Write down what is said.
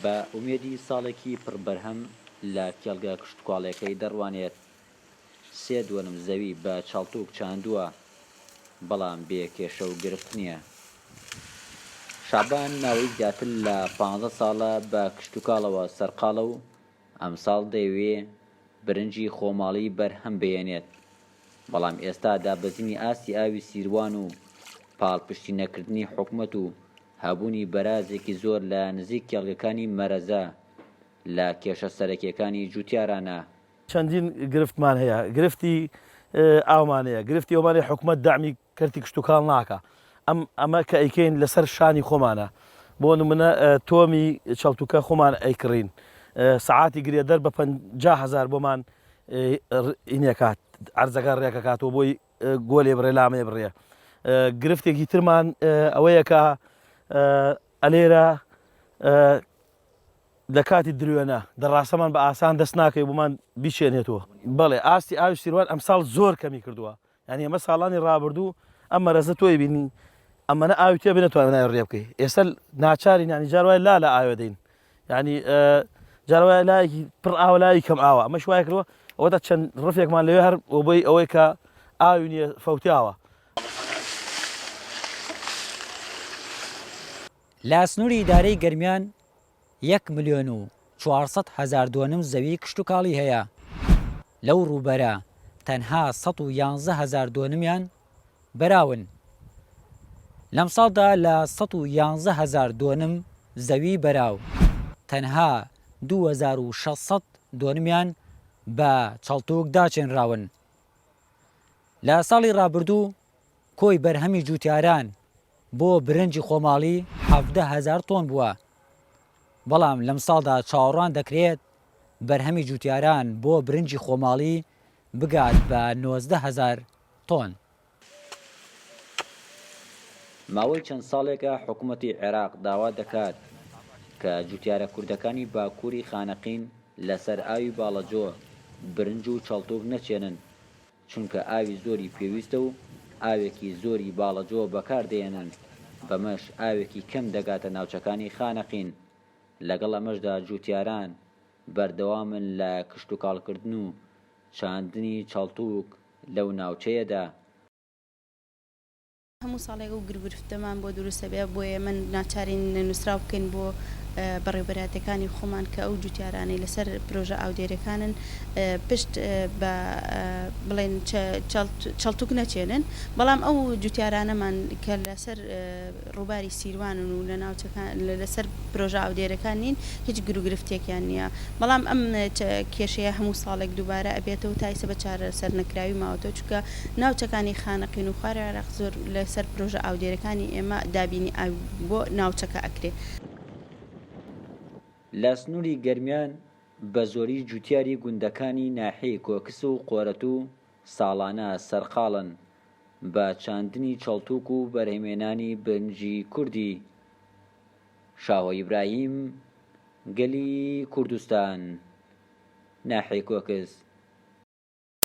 بە ئومێدی ساڵێکی پڕ بەرهەم لە کێڵگە کشتوکاڵێکەی دەڕوانێت، سێ دۆنم زەوی بە چاڵتووک چاندووە، بەڵام بێ کێشە و گرفت نییە. شەعبان ناوەی زیاتر لە پانزە ساڵە بە کشتوکاڵەوە سەرقاڵە و ئەمساڵ دەیەوێ برنجی خۆماڵی بەرهەم بهێنێت، بەڵام ئێستا دابەزینی ئاستی ئاوی سیروان و پاڵپشتی نەکردنی حکومەت و هەبوونی بەرازێکی زۆر لە نزیک کێڵگەکانی مەرەزە لە کێشە سەرەکییەکانی جووتیارانە. چەندین گرفتمان هەیە، گرفتی ئاومان هەیە، گرفتی ئەومان هەیە حکومەت دەعمی کەرتی کشتوکاڵ ناکا ئەم ئەمە کە ئەیکەین لەسەر شانی خۆمانە بۆ نمونە تۆمی چەڵتوکە خۆمان ئەیکڕین سەعاتی گرێدەر بە پەنجا هەزار بۆمان ئینەکات ئەرزەکە ڕێکەکاتەوە بۆی گۆلێ بڕێ لامێ بڕێ گرفتێکی ترمان ئەوەیە کە ئەلێرە لە کاتی درێنە دەڕاستەمان بە ئاسان دەست ناکەی بمان بیچێنێتەوە بەڵێ ئاستی ئاوی سیروان ئەمساڵ زۆر کەمی کردووە یانی ئەمە ساڵانی ڕابردوو ئەم مەرەزە تۆی بینی ئەمەە ئاوی تێ بێنە توانای ڕێ بکەی ئێستا ناچارین ینی جار وای لا لە ئاوێ دەین ینی جارە لایەکی پڕ ئاوە لای کەم ئاوە ئەمە شوای کردوە ئەوە تا چەند ڕفێکمان لەوێ هەر بۆی ئەوەی کە ئاوی نیە فەوتیاوە لە سنووری ئیدارەی گەرمیان یەک ملیۆن و چوار سەد هەزار دۆنم زەویی کشتوکاڵی هەیە، لەو ڕووبەرە تەنها سەد و یانزە هەزار دۆنمیان بەراون. لەمساڵدا لە سەد و یانزە هەزار دۆنم زەویی بەراو، تەنها دوو هەزار و شەش سەد دۆنمیان بە چەڵتووک داچێنراون. لە ساڵی ڕابردوو کۆی بەرهەمی جووتیاران بۆ برنجی خۆماڵی حەڤدە هەزار تۆن بووە، بەڵام لەمساڵدا چاوەڕوان دەکرێت بەرهەمی جووتیاران بۆ برنجی خۆماڵی بگات بە نۆزدە هەزار تۆن. ماوەی چەند ساڵێکە حکومەتی عێراق داوا دەکات کە جووتیارە کوردەکانی باکووری خانەقین لەسەر ئاوی باڵەجۆ برنج و چەڵتووک نەچێنن، چونکە ئاوی زۆری پێویستە و ئاوێکی زۆری باڵەجۆ بەکار دەهێنن، بەمەش ئاوێکی کەم دەگاتە ناوچەکانی خانەقین. لەگەڵ ئەمەشدا جووتیاران بەردەوامن لە کشتوکاڵکردن و چاندنی چەڵتووک لەو ناوچەیەدا. هەموو ساڵێک ئەو گرگرفتەمان بۆ دروست ئەبێ، بۆ ئێمە ناچارین نووسراو بکەین بۆ بەڕێوبەرایەتیەکانی خۆمان کە ئەو جوتیارانەی لەسەر پرۆژە ئاودێرێکانن پشت بە بڵێن چەڵتوک نەچێنن، بەڵام ئەو جوتیارانەمان کە لەسەر ڕووباری سیروانن و لە ناوچەکان لەسەر پرۆژە ئاودێرەکان نین هیچ گروگرفتێکیان نییە، بەڵام ئەم کێشەیە هەموو ساڵێک دووبارە ئەبێتەوە تایسە بە چارەسەر نەکراوی ماوەتەوە. چونکە ناوچەکانی خانەقین و خوار عێراق زۆر لەسەر پرۆژە ئاودێرەکانی ئێمە دابینی ئاوی بۆ ناوچەکە ئەکرێ. لە سنووری گەرمیان بە زۆری جووتیاری گوندەکانی ناحیەی کۆکس و قۆرەتوو ساڵانە سەرقاڵن بە چاندنی چەڵتووک و بەرهەمێنانی برنجی کوردی شاهۆ ئیبراهیم گەلی کوردستان ناحیەی کۆکس.